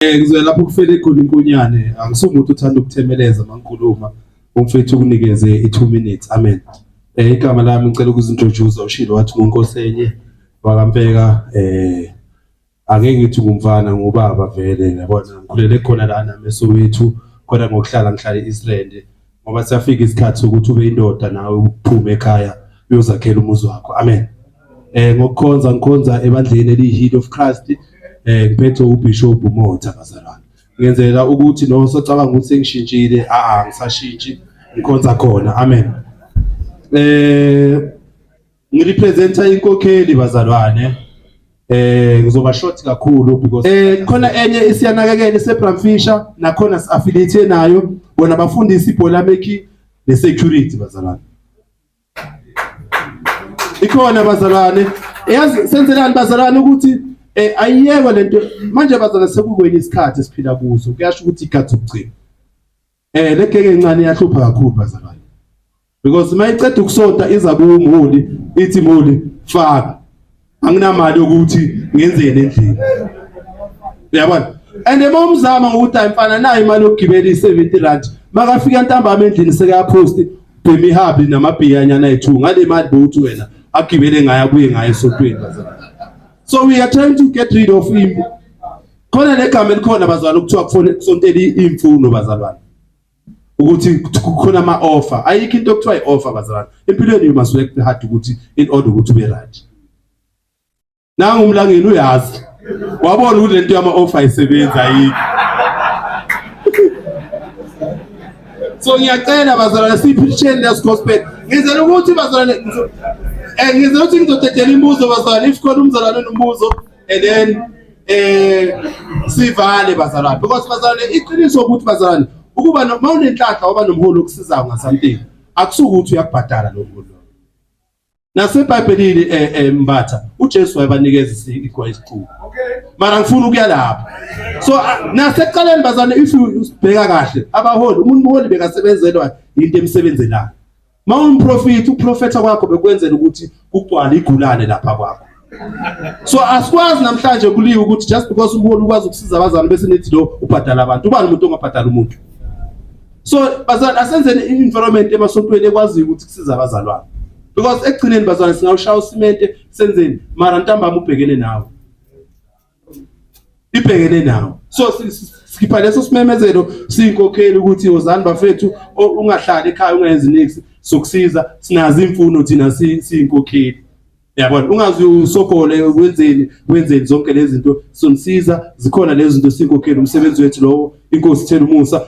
Eh ngizwe lapho kufele khona inkonyane angisumuntu uthanda ukuthemeleza mangikhuluma umfethu ukunikeze i 2 minutes amen. Eh igama lami ngicela ukuzintroduce ushilo wathi ngunkosi enye wakampeka eh angeke ngithi ngumfana ngubaba vele yabona ngikhulele khona lana mesowethu khona ngokuhlala ngihlale Israel ngoba siyafika isikhathi sokuthi ube indoda nawe uphume ekhaya uyozakhela umuzi wakho amen eh ngokukhonza ngikhonza ebandleni eliyi-heat of christ eh ngiphethe ubishop umotha bazalwane ngenzela ukuthi nosocabanga ukuthi sengishintshile a-a ngisashintshi ngikhonza khona amen eh Ngirepresenta inkokheli bazalwane. Eh ngizoba short kakhulu because eh khona enye isiyanakekela iseBramfisher nakhona siaffiliate nayo bona bafundisi ibhola meki nesecurity bazalwane. Ikhona bazalwane. Eyazi senzelani bazalwane ukuthi eh ayiyekwe lento manje bazalwane sekukwenye isikhathi esiphila kuso kuyasho ukuthi ikhathi ukugcina. Eh le keke encane iyahlupha kakhulu bazalwane. Because mayiceda ukusota iza kuwumholi ithi mholi faka. Anginamali yokuthi ngenzeni endlini. Uyabona? And uma umzama ngokuthi ayimfana nayo imali yokugibela i70 rand makafika ntambama endlini sekayapost bhemi habi namabhiya nyana ethu ngale mali bowuthi wena agibele ngayo abuye ngayo esontweni bazalwane. So we are trying to get rid of him Khona negama elikhona bazalwane ukuthiwa kufanele kusontele imfundo bazalwane. Ukuthi kukhona ama offer. Ayikho into okuthiwa ioffer bazalwane. Empilweni you must work hard ukuthi in order ukuthi ube right. Nangu umlangeni uyazi. Wabona ukuthi lento yama offer ayisebenzi ayikho. So ngiyacela bazalwane siphisheni lesi gospel. Ngizela ukuthi bazalwane eh ngizela ukuthi ngizodedela imibuzo bazalwane if khona umzalwane nombuzo and then eh sivale bazalwane because bazalwane iqiniso ukuthi bazalwane ukuba noma unenhlanhla waba nomholi okusizayo ngasantini akusuke ukuthi uyakubhadala lo mholi nasebhayibhelini eh, eh mbatha uJesu wayebanikeza igwa isiqubu mara ngifuna ukuya lapho so ah, naseqaleni bazalwane if ubheka kahle abaholi umuntu umholi bekasebenzelwa into emsebenzelayo Mawumprofeti uprofetha kwakho bekwenzela ukuthi kugcwale igulane lapha kwakho. So asikwazi namhlanje kuliwa ukuthi just because ubona ukwazi ukusiza abazali bese nithi lo ubhadala abantu. Ubani umuntu ongabhadala umuntu? So bazali asenzeni environment emasontweni ekwazi ukuthi kusiza abazalwane. Because ekugcineni bazali singawushaya usimente senzeni mara ntambama ubhekene nawe. ibhekene nawo so sikhipha leso simemezelo siyinkokheli ukuthi wozani bafethu ungahlali ekhaya ungenzi nix sokusiza sinazo imfuno thina siyinkokheli yabona ungazi usogole wenzeni wenzeni zonke lezi zinto sonisiza zikhona lezi zinto sinkokheli umsebenzi wethu lowo inkosi thela umusa